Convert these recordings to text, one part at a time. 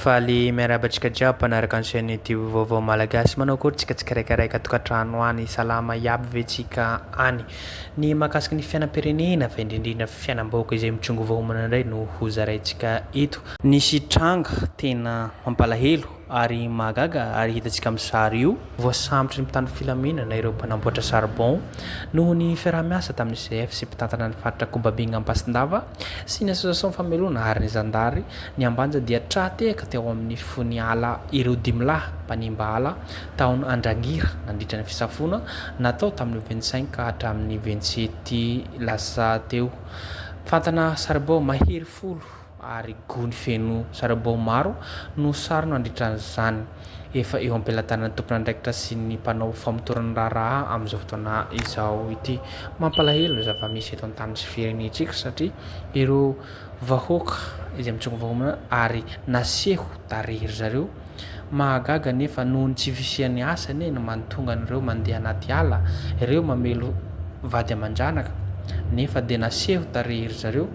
Faly miarahaba antsika jiaby mpanaraka ny chaîne youtube vaovao malagasy manao akory tsika tsikaraikaraika tokatrano any salama iaby ve tsika any ny mahakasika ny fiainampirenena fa indrindrindra fiainambahoaka izay mijongo vahomana indray no ho zaraintsika eto nisy tranga tena mampalahelo ary mahagaga ary hitantsika amin'ny sary io voasambotry ny mpitandro filaminana ireo mpanamboatra charbon noho ny fiaraha-miasa tamin'ny CF sy mpitantana ny faritra Kobabinga Ampasindava sy ny Association Famelona ary ny Zandary, ny Ambanja dia tra-tehaka teo amin'ny fon'ny ala ireo dimy lahy mpanimba ala taon' Andrangira nandritra ny fisafoana natao tamin'ny vingt cinq ka hatramin'ny vingt sept lasa teo. Fatana saribao mahery folo ary gony feno saribao maro no sarotra nandritra an'izany. efa eo am-pelatanan'ny tompon'andraikitra sy ny mpanao famotorana raharaha amin'izao fotoana izao ity. Mampalahelo ny zava-misy eto an-tany sy firenentsika satria ireo vahoaka izay mitsoka vahaolana ary naseho tarehy ry zareo. Mahagaga anefa noho ny tsy fisian'ny asa anie no mantonga an'ireo mandeha anaty ala ireo mamelo vady aman-janaka nefa dia naseho tarehy ry zareo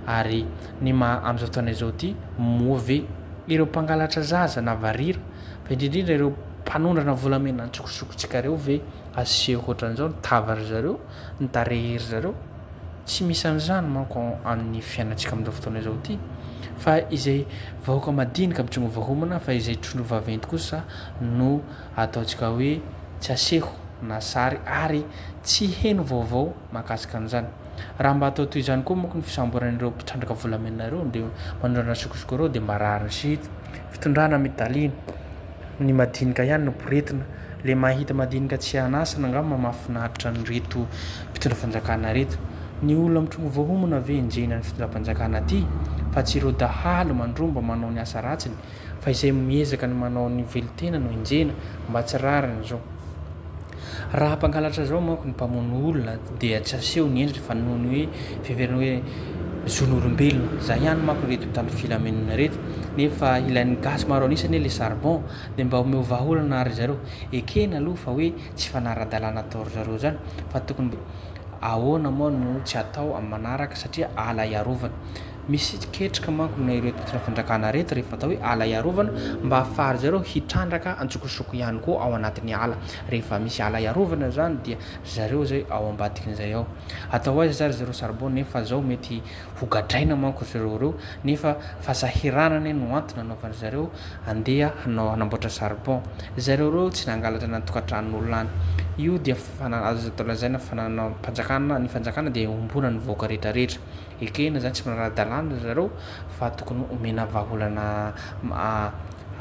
ary ny maha amin'izao fotoana izao ity moa ve ireo mpangalatra zaza na varira fa indrindrindra ireo mpanondrana volamena an-tsokosokontsika ireo ve aseho hoatran'izao ny tava-ry zareo, ny tarehi-ry zareo? Tsy misy an'izany manko amin'ny fiainantsika amin'izao fotoana izao ity fa izay vahoaka madinika mijingo vahomana fa izay trondro vaventy kosa no ataontsika hoe tsy aseho na sary ary tsy heno vaovao mahakasika an'izany. Raha mba atao toy izany koa moko ny fisamborana ireo mpitrandraka volamena ireo dia manondrana sokosoko ireo dia marary sy. Fitondrana midalina. Ny madinika ihany no poretina. Le mahita madinika tsy anasana nga mamafinaritra an'ireto mpitondra fanjakana reto. Ny olona mitrongy voahomana ve enjehina ny fitondram-panjakana ty fa tsy ireo dahalo mandromba manao ny asa ratsiny fa izay miezaka ny manao ny velon-tena no enjehina mba tsy rariny zao. Raha mpangalatra zao manko ny mpamono olona dia tsy aseho ny endriny fa noho ny hoe fiheverana hoe zon'olombelona. Zay ihany manko ireto mpitandro filaminana ireto nefa ilain'ny gasy maro an'isa anie le charbon de mba omeo vahaolana ary zareo. Ekena aloha fa hoe tsy fanara-dalàna atao ry zareo zany fa tokony ahoana moa no tsy atao amin'ny manaraka satria ala iarovana. Misy ketrika manko na ireto mpitondra fanjakana ireto rehefa atao hoe ala iarovana mba hahafahan-dry zareo hitrandraka antsokosoko ihany koa ao anatin'ny ala. Rehefa misy ala iarovana izany dia ry zareo izay ao ambadikin'izay ao. Atao aiza aza ry zareo saribao nefa izao mety ho gadraina manko ry zareo ireo nefa fahasahiranana anie no antony nanaovan-dry zareo handeha hanao hanamboatra saribao. Ry zareo ireo tsy nangalatra na ny tokantranon'olona any. Io dia fanana azo atao lazaina fanananam-panjakana, ny fanjakana dia iombonan'ny vahoaka rehetra rehetra. Ekena izany tsy manara-dalàna ry zareo fa tokony omena vahaolana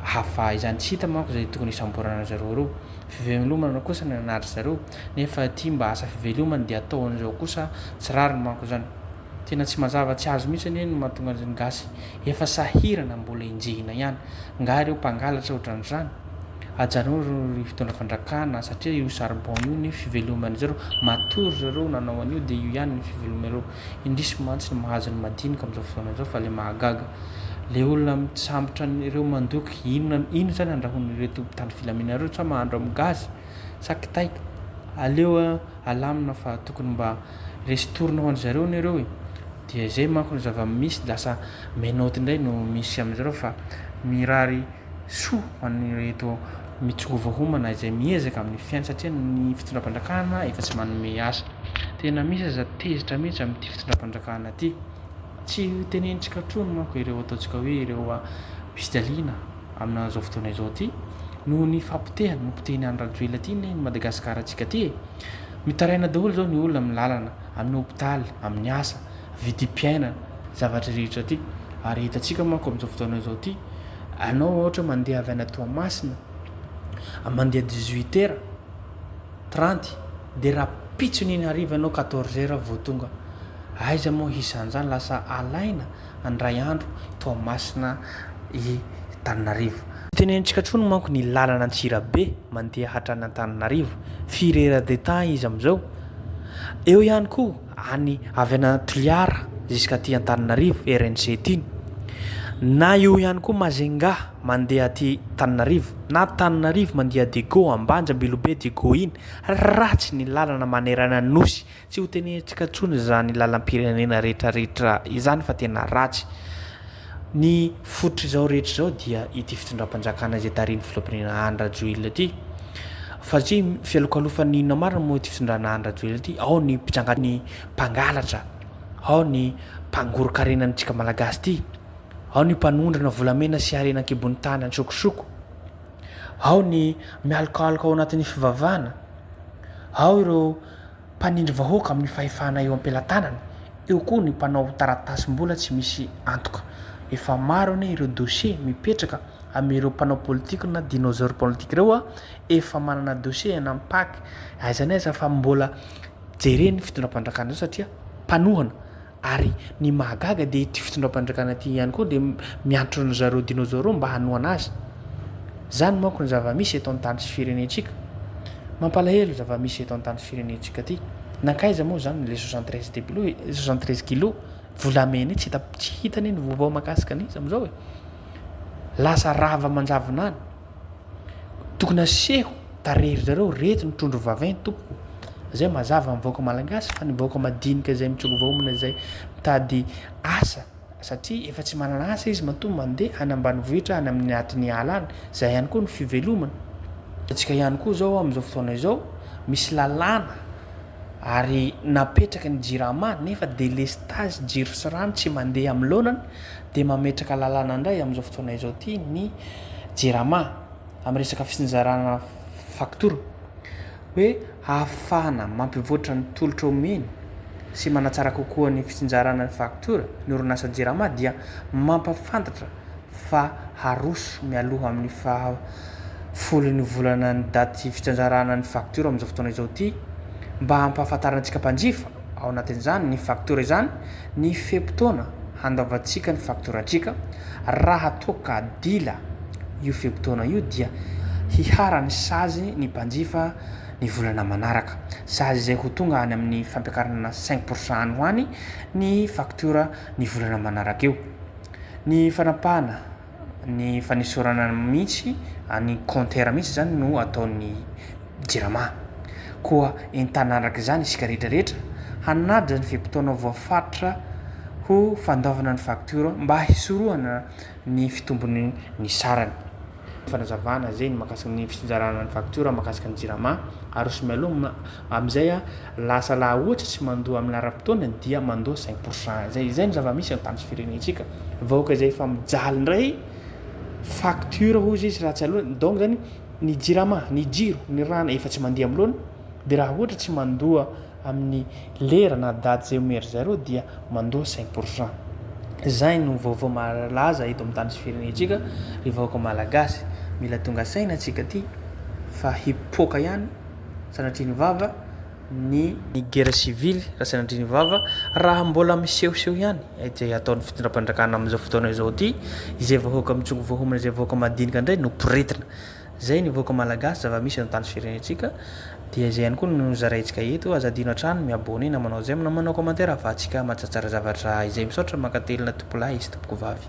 hafa izany. Tsy hita manko izay tokony hisamborana an-dry zareo ireo. Fivelomana kosa no ianaran-dry zareo nefa ity mba asa fivelomana dia ataon'izao kosa tsy rariny manko izany. Tena tsy mazava tsy azo mihitsy anie ny mahatonga ny gasy efa sahirana mbola enjehina ihany. Ngah ireo mpangalatra otran'izany ajanony ry mpitondra fandrakana satria io charbon io ny fiveloman'dry zareo. Matoa ry zareo nanao an'io dia io ihany ny fiveloman'dry zareo. Indrisy mantsy ny mahazo ny madinika amin'izao fotoana izao fa ilay mahagaga, ilay olona misambotra an'ireo mandoky, inona inona izany andrahon'ireto mpitandro filaminana ireo, sa mahandro amin'ny gaz, sa kitay? Aleo alamina fa tokony mba resy tourne ho an'zareo anie ireo e! Dia izay manko no zava-misy, lasa menottes indray no misy amin'izareo fa mirary soa ho an'ireto mitsoa homana izay miezaka amin'ny fiainana satria ny fitondram-panjakana efa tsy manome asa. Tena misy aza tezitra mihitsy amin'ity fitondram-panjakana ity. Tsy tenenintsika intsony manko ireo ataontsika hoe ireo mpifdaliana amin'izao fotoana izao ity noho ny fampotehana nopotehin'i Andry Rajoelina ity ny Madagasikara antsika ity e. Mitaraina daholo izao ny olona amin'ny lalana, amin'ny hopitaly, amin'ny asa. vidim-piainana zavatra rehetra ity ary hitantsika manko amin'izao fotoana izao ity anao ohatra mandeha avy ana Toamasina mandeha 18 heures 30 dia raha pitsony iny hariva ianao 14 heures vao tonga aiza moa hisanjany lasa alaina andray andro Toamasina i Tananarivo Tenenitsika intsony manko ny lalana Antsirabe mandeha hatrany Antananarivo, Firera d'Etat izy amin'izao, eo ihany koa. any avy any Toliara jusqu'aty Antananarivo RNC ity na eo ihany koa Majunga mandeha aty Tananarivo na Tananarivo mandeha Diego Ambanja Ambilobe Diego iny ratsy ny lalana manerana ny Nosy tsy ho tenentsika intsony izany lalam-pirenena rehetra rehetra izany fa tena ratsy Ny fototr'izao rehetra izao dia ity fitondram-panjakana izay tarihin'ny filoham-pirenena Andry Rajoelina ity. Fa tsy hoe fialokalofan'ny inona marina moa ity fitondrana Andry Rajoelina ity. Ao ny mpijanga, ny mpangalatra, ao ny mpangoron-karena antsika Malagasy ity, ao ny mpanondrana volamena sy harena an-kibon'ny tany an-tsokosoko, ao ny mialokaloka ao anatin'ny fivavahana, ao ireo mpanindry vahoaka amin'ny fahefana eo am-pelatanany, eo koa ny mpanao taratasim-bola tsy misy antoka. Efa maro anie ireo dossiers mipetraka amin'ireo mpanao politique na dinosaures politiques ireo a, efa manana dossiers ianao mipaka aiza n'aiza fa mbola jereny ny fitondram-panjakana izao satria mpanohana. Ary ny mahagaga dia ity fitondram-panjakana ity ihany koa dia miantso an-dry zareo dinaozôro mba hanohana azy. Izany manko ny zava-misy eto an-tany sy firenentsika. Mampalahelo ny zava-misy eto an-tany sy firenentsika ity. Nankaiza moa izany ilay soixante treize deblo e, soixante treize kilo volamena e, tsy hita, tsy hita anie ny vaovao mahakasika an'iza amin'izao e. Lasa rava aman-javona any. Tokony aseho tarehy ry zareo reto ny trondro vavin tompoko zay mazava ny vahoaka malagasy fa ny vahoaka madinika izay mitsoka vaomana izay mitady asa satria efa tsy manana asa izy matoa mandeha any ambanivohitra any amin'ny atin'ny ala any zay ihany koa ny fivelomana atsika ihany koa zao amin'izao fotoana izao misy lalàna ary napetraka ny jirama nefa delestazy jiro sy rano tsy mandeha amin'ny laonany dia mametraka lalàna indray amin'izao fotoana izao ity ny Jirama amin'ny resaka fitsinjarana faktora hoe hahafahana mampivoatra ny tolotra omeny sy manatsara kokoa ny fitsinjarana ny faktora ny orinasa Jirama dia mampafantatra fa haroso mialoha amin'ny faha folo ny volana ny daty fitsinjarana ny faktora amin'izao fotoana izao ity mba hampahafantarantsika mpanjifa ao anatin'izany ny faktora izany ny fe-potoana handoavantsika ny faktorantsika, raha toa ka dila io fe-potoana io dia hiharan'ny sazy ny mpanjifa ny volana manaraka, sazy izay ho tonga any amin'ny fampiakarana cinq pour cent any ho any ny faktora ny volana manaraka eo. Ny fanapahana. ny fanesorana mihitsy any kaontera mihitsy izany no ataon'ny jirama. Koa entanina araka izany isika rehetra rehetra hanaja ny fe-potoana voafaritra ho fandaovana ny faktiora mba hisorohana ny fitombony ny sarany. Fanazavana zay ny mahakasika ny fitsinjarana ny faktiora mahakasika ny jirama aroso mialoha. Amin'izay aho lasa laha ohatra tsy mandoa amin'ny laharam-potoanany dia mandoa cinq pour cent izay. Izay no zava-misy eto amin'ny firenentsika. Vahoaka izay efa mijaly indray facture hozy izy raha tsy aloany. Donc izany ny jirama, ny jiro, ny rano efa tsy mandeha amin'ny loany dia raha ohatra tsy mandoa amin'ny lera na daty izay omen-dry zareo dia mandoa cinq pour cent. Izay no vaovao malaza eto amin'ny tany sy firenentsika ry vahoaka malagasy. Mila tonga saina antsika aty fa hipoaka ihany. Zanadrinivava ny guerre civile ra Zanadrinivava raha mbola misehoseho ihany izay ataony fitondram-panjakana amin'izao fotoana izao ity izay vahoaka mitsongo voahomana izay vahoaka madinika indray no poretina izay ny vahoaka malagasy zava-misy eto tany sy firenentsika dia izay ihany koa no zaraintsika eto aza adino hatrany mi abonner na manao j'aime na manao commentaire ahafahantsika mahatsara zavatra izay misaotra mankatelina tompolahy sy tompoko vavy.